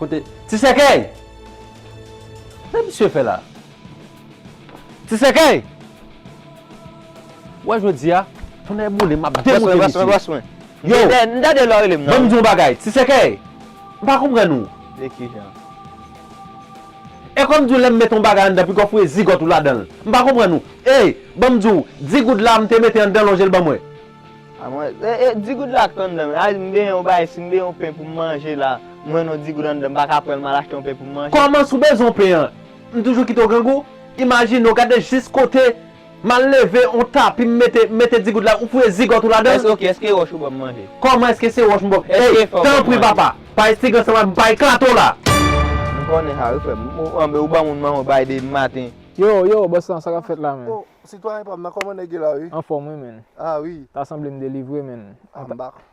Kote ti sèkèy. Sa misye fè la. Ti sèkèy. Wè jodi a. Tonnè boule map demoute misye. Bwè swen. Yo. Mdade lò relem nan. Banm diw bagay. Ti sèkèy. Mpa konprann ou. Dekijan. E kòm di w lè m met on bagay anndan pi gò fouye zigòt ou ladan l. M pa konprann ou. Ey! Ban m di w, di goud la m te mete anndan lonje l ban m wè. A mwen, e, e, di goud la k anndan l. A si m benyen on bagay, si m benyen on pen pou m manje la, m wè non di goud anndan m pa ka pran l m al achte on pen pou m manje? Kòman si w bezwen on pen an, m toujou kite w grangou? Imajine w, gade jis kote M al leve on tapi m mete m mete digout la ou fouye zigòt ou ladan l? Èske ok èske wòch ou ban m manje? Kòman èske se wòch m ban w Èske Ey! fè w ban m Tanpri manje? papa! Pa estige ansanm avè m pa eklate w la! M konnen sa wi frè m. Ou anben ou ban moun manman w bay de maten. Yo! Yo! Bòs lan, sa k ap fèt la menn? Oh! Sitwayen pa m nan kòman nèg ye la wi? Anfòm wi menn. Ah wi! Ta sanble m delivre menn. Ah m pa.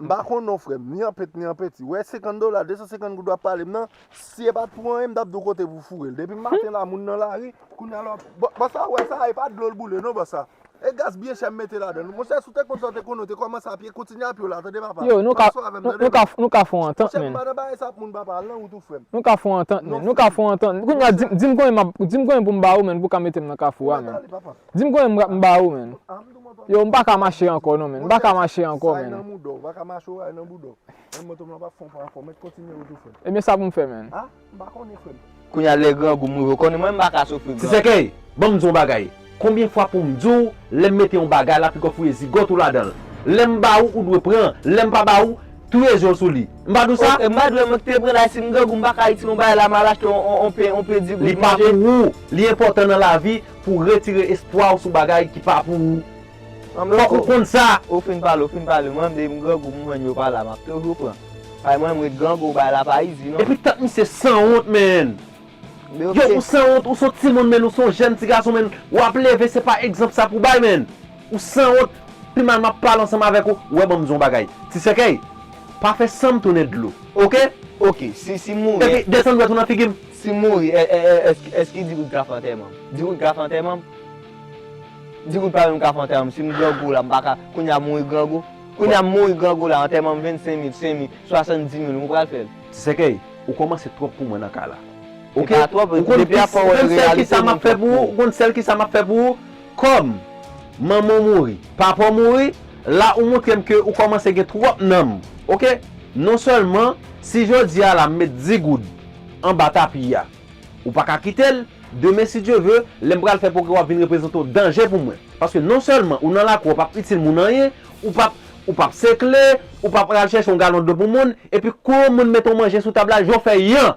M pa konn non frè m, ni an pent ni an penti. Wè 50 dola, 250 goud w ap pale m nan, si e pa t pou anyen m t ap di w kote pou w foure l. Depi m maten la moun nan lari, kounya la w ap. Bò sa ou wè sa a e pa dlo l boule non bò sa. E gaz byen chè m mete ladan l. Monchè si w te konn sa w te konnen w te kòmanse a pye, kontinye a pye w la tande papa. Yo, nou ka, nou ka, nou ka fè yon antant menn. Monchè m pa nan bagay sa a pou moun papa, al nan wout ou frè m. Nou ka fè yon antant menn, nou ka fè yon antant. Kounya di m konbyen m ap, di m konbyen pou m ba ou menn pou w ka mete m nan kafou a menn. Dim konbyen m m ba ou menn. Yow m pa ka mache ankò non menn. M pa ka mache ankò menn. Ebyen sa pou m fè menn. Kounya lè grangou m rive konn mwen m pa ka soufri grangou. Ti sèkèy, ban m di w yon bagay. Konbyen fwa pou m di w lè m mete yon bagay la piko fouye zigòt ou ladan l. Lè m ba ou ou dwe pran, lè m pa ba ou, touye je w sou li. M pa di w sa? M pa dwe mank te pran la si m grangou m pa ka itilize yon bagay la m al achte yon pen di goud manje. Li pa pou ou, li enpòtan nan lavi. pou retire espwa ou sou bagay ki pa pou ou. Fòk ou konn sa! Ou fin pale, ou fin pale, mwen menm grangou m jwenn yo pa la, m ap toujou pran. Bay mwen m ret grangou, bay la pa izi non. Epi tant misye sanwont menn. Yow ou sanwont, ou son timoun menn, ou son jèn ti gason menn, w ap leve se pa egzanp sa pou w bay menn. Ou sanwont, pi mal map pale ansanm avèk ou, wè banm di w yon bagay, ti sèkèy, pa fè sanm tounen dlo. Ok! Ok! Si, si m mouri. Epi desann dwèt ou nan figi m. Si m mouri, èske di kout ka fè antèman m? Di kout ka fè antèman m? Di kout pa menm ka fè antèman m, si m grangou la m pa ka, kounye a m mouri grangou? Kounye a m mouri grangou la, antèman m 25 mil, 5 mil, 70 mil, ou pral fè l? Ti sèkèy, ou kòmanse twòp pou mwen nan kay la. Ok! Ou konn sèl kisa map fè pou ou? Ou konn sèl kisa map fè pou ou? Kòm, manman w mouri, papa w mouri, la ou montre m ke ou kòmanse gen twòp nanm, ok? Non sèlman, si jodi a la m met 10 goud anba tapi a, ou pa ka kite l, demen si Dye ve, lè m pral fè pwogrè w ap vin reprezante yon danje pou mwen. Paske non sèlman ou nan lakou a ou p ap itil moun anyen, ou p ap ou p ap sekle, ou p ap al chèche yon galon dlo pou moun, epi kou yon moun mete yon manje sou tab la, jan w fè yan!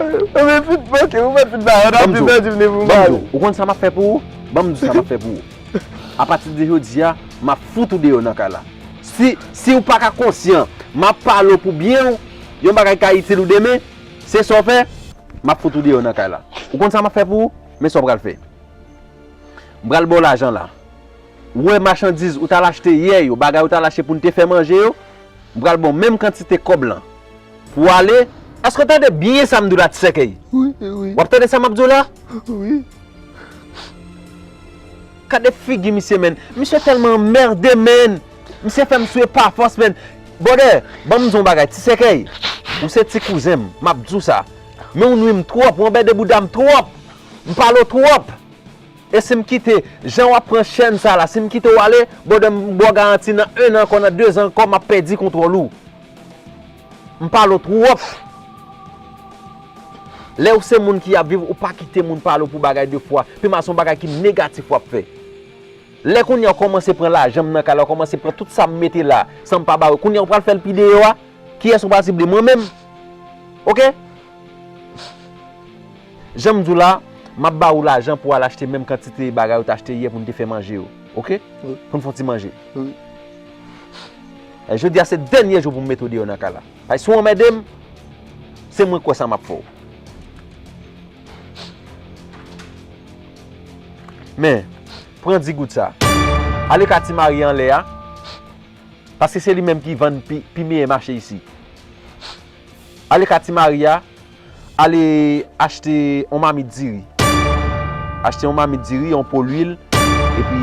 Ou met fin manke, ou met fin ba yo, nan pi pèdi vini pou mari. Banm di w, ou konn sa map fè pou ou? Banm di w sa map fè pou ou. A pati de jodi a, map fout ou deyò nan kay la. Si, si ou paka konsyan, map pale w pou byen w, yon bagay ki ka itil ou demen, se sa w fè, map fout ou deyò nan kay la. Ou konn sa map fè pou ou? Men sa w pral fè. M pral ba w lajan la. Ou wè machandiz ou t al achte yè yo, bagay ou t al achte pou n te fè manje yo, m pral ba w menm kantite kòb lan. Pou ale, èske w tande byen sa m di w la ti sèkèy? W ap tande sa m ap di w la? Gade figi misye menn, misye tèlman anmède menn, misye fè m swe pa fòs menn. Bwòdè, ban m di w yon bagay, ti sèkèy, ou se ti kouzen m, m ap di w sa, men ou nwi m twòp, ou anbède bouda m twòp, m pale w twòp. E si m kite, jan w ap pran chèn sa la, si m kite w ale, bwòdè m ba w garanti nan ennan ankò, nan dezan ankò, m ap pèdi kontwòl ou. M pale w twòf. Lè ou se moun ki ap viv ou pa kite moun pale w pou bagay de fwa. Pi mal se yon bagay ki negatif w ap fè. Lè kounye a ou kòmanse pran lajan m nan kay la, ou kòmanse pran tout sa m mete la, san m pa ba ou. Kounye a ou pral fè l pi deyò a. Kiyès ou pral sible? Mwen menm. Ok. Jan m di w la, m ap ba ou lajan pou w al achte menm kantite bagay ou te achte yè pou n te fè manje yo. Ok. Pou n fè yon ti manje. Jodi a se dènye jou pou m mete w deyò nan kay la. Paske si w anmède m, se mwen kwè sa m ap fè w. Men, pran di goud sa. Ale ka ti Marie anlè a, paske se li menm ki vann pi meyè mache isi. Ale ka ti Marie a, ale achte yon mamit diri. Achte yon mamit diri, yon po lwil, epi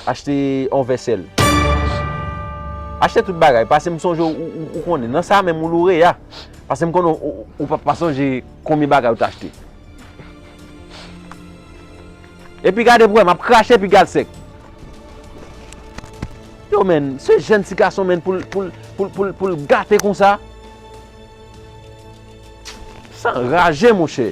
Achte yon vèsèl. Achte tout bagay. Pase m sonje ou konnen. Nan sa menm ou loure ya. Pase m konnen ou pa sonje konbyen bagay ou t achte. E pi gade pou wè. M ap krache pi gal sèk. Yo men. Se jèn ti gason men pou l gate kon sa. San raje mouche.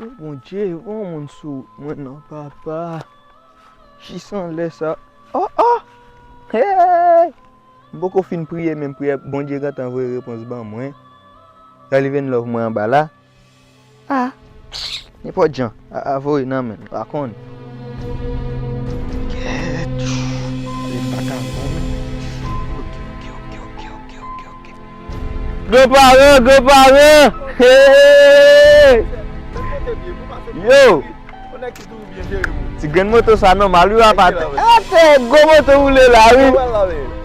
Ooh bondye voye yon moun sou mwen non papa jis anlè sa oh oh eeyy m poko fin priye menm priyè bondye gentan voye repons ban mwen gade vin love mwen anba la ah nenpòt jan aa voye nan menm pa konn. Gran paran, gran paran! Yo! Ti grenn moto sa nòmal wi apa. Atè, gwo moto woule la wi.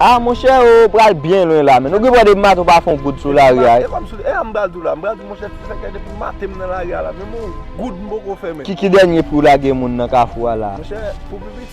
A monchè ou pral byen lwen la men. Nou gen pou wè depi maten ou pa fè yon goud sou lari a. E a m pral di w la, m pral di w monchè ti sèkè depi maten m nan lari a la menm yon goud m poko fè men. Ki dènye pri w lage moun nan kafou a la? Monchè, pou pi piti.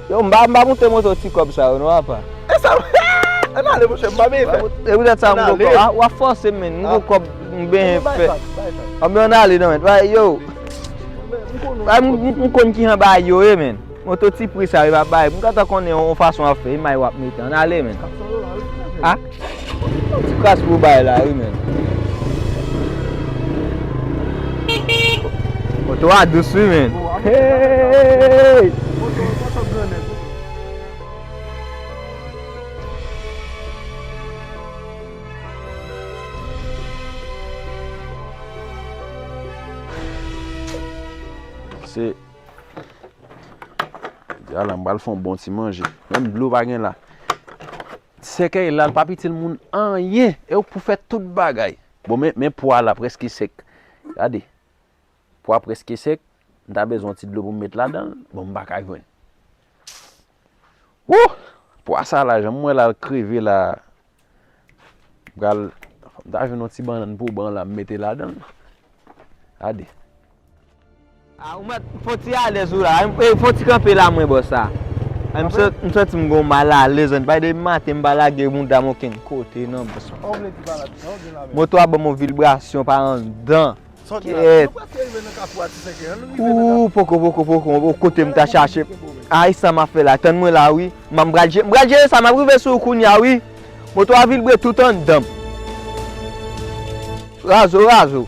Yo m pa moute moto ti kob sa yo non apa. Esa eeh ann ale monchè m pa beye fè. E poutèt sa m poko ah wap fòse m menn m gou kòb m benyen fè. Bay fas bay fas. Anben ann ale nan menn yo. Bay m konn kijan bagay yo ye menn. Moto ti pri sa yo pa bay m gentan konnen yon fason wap fè imaj wap mete ann ale menn. Kapson yo la wi. Ah. Yon ti kras pou bay la wi menn. Moto a dous wi menn. Se Jodi a la m pral fon bon ti manje. Menm dlo pa gen la. Sèkèy la l pap itil moun anyen e ou pou fè tout bagay. Bon men men pwa la prèske sèk gade pwa prèske sèk m ta bezwen yon ti dlo pou m met ladanl bon m paka jwenn wouhh pwa sa la jan m wè la l kreve la m pral fòk m ta jwenn yon ti bannann pou ban la m mete ladanl gade. Ah ou mèt fon ti alèz ou la eh fon ti kanpe la mwen bò sa M santi m gon mal alèz anba depi maten m pa lage mouda m okenn kote nan bò sa Moto a banm yon vilbrasyon pa anndan Kèèt Ooh poko poko poko oh kote m ta chache Ah e sa m ap fè la tann mwen la wi M pral jere m pral jere sa m ap rive sou ou kounya wi Moto a vilbre tout anndan m Razo razo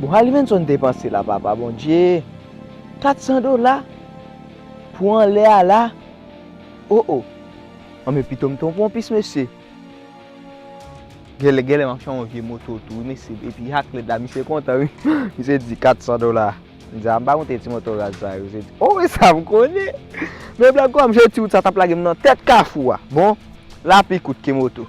Bon Halimenson te panse la papa Bondye 400 dola pou anlè a la oh oh an men pitom te yon ponpis mesye gèlè gèlè map chan yon vye moto tou wi mesye epi ak lèd la misye kontan wi misye di 400 dola m di a m pa konte ti moto raz sa yo misye di oh e sa m konnen men blan kòm je di w sa tap lagem nan tèt kafou a bon lapli kout ke moto.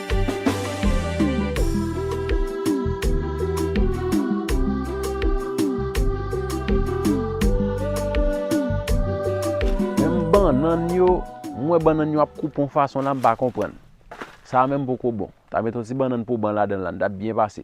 Menm bannann yo, m wè bannann yo ap koupe yon fason la m pa konprann. Sa a menm poko bon. Ta met yon ti bannann poban ladan l la, n t ap byen pase.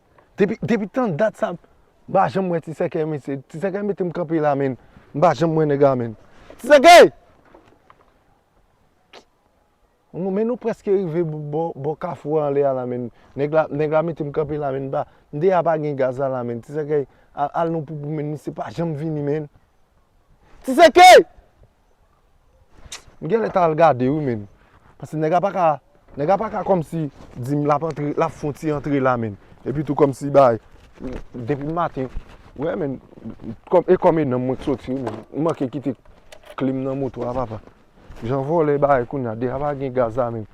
Depi depi tan dat sa m pa janm wè ti sèkèy mesye. Ti sèkèy mete m kanpe la menn. M pa janm wè nèg la menn. Ti sèkèy! Bon men nou prèske rive bò bò kafou a anlè a la menn. Nèg la nèg la mete m kanpe la menn m pa m deyè pa gen gaz la la menn. Ti sèkèy al al nou poupou menn misye pa janm vini menn. Ti sèkèy! M genlè ta al gade wi menn. Paske nèg la paka, nèg la paka kòmsi di m l ap antre, l ap fè yon ti antre la menn. Epi tou kòmsi bay, depi m maten, wè menn, e kòm e nan m mwen k soti wi menn. M manke kite kle m nan moto a papa. Jan vòlè bay kounya, deja pa gen gaz la menm.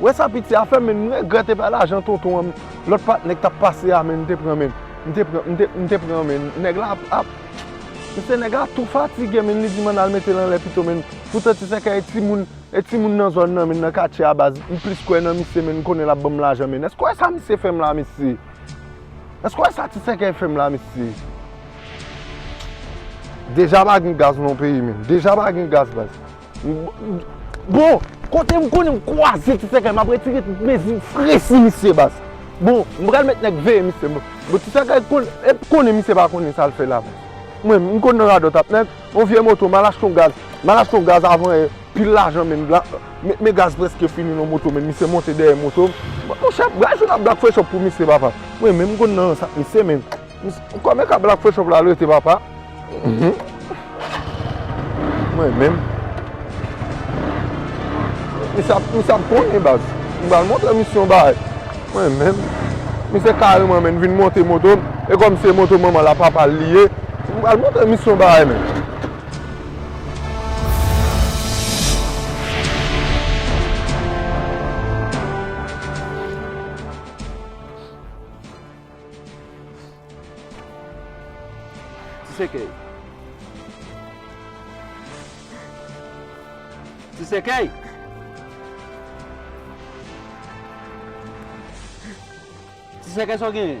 Wè sa piti a fè men m regrèt epa lajan tonton an lòt patnè k tap pase a men m te pran men m te pran m te pran men nèg la ap mesye nèg la tou fatige men li di m ann al mete l anlè pito men poutan ti sèkèy e timoun e timoun nan zòn nan men nan katye a baz m plis kwè nan misye men m konnen lap banm lajan men èske w wè sa misye fè m la mesye èske w wè sa ti sèkèy fè m la mesye deja pa gen gaz nan peyi men deja pa gen gaz baz. Bon, kote m konnen m kwaze ti sèkèy m ap retire tout mezi fre sou misye baz. Bon, m pral mèt nèg veye misye baz. Bon ti sèkèy konnen misye pa konnen sa l fè la baz. Mwen menm m konn nan radòt ap mèt yon vye moto m al achte yon gaz. M al achte yon gaz avan yè, pil lajan menm la. Men gaz prèske fini nan moto m men misye monte dèyè moto m. Monchè, baz yon ap black fresh up pou misye papa. Mwen menm m konn nan rans ak misye men. Ou kòmè ka black fo chòp la rete papa Mwen menm Misye ap misye ap konnen baz M pral montre misye yon bagay Mwen menm Misye kareman menn vin monte moto m E kòm se moto manman l a papa l li ye M pral montre misye yon bagay menn. Ti sèkèy. Ti sèkèy. Ti sèkèy sa w genyen?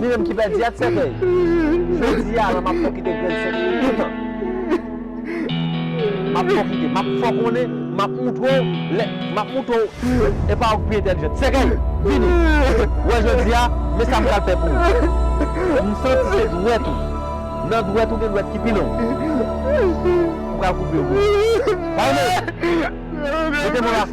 Li menm ki pèdi a t sèkèy. Jodi a la m ap fè w kite grenn sèkèy toutan. M ap fè w kite. M ap fè w konnen. M ap montre w lè. M ap montre w e pa ou ki pi entèlijant. Sèkèy! Vini! Ou wè jodi a, men sa m pral fè pou ou. M santi se dwèt ou. Nan dwèt ou gen dwèt ki pi long. M pral koupe yo pou ou. Vayne! Mete men w la.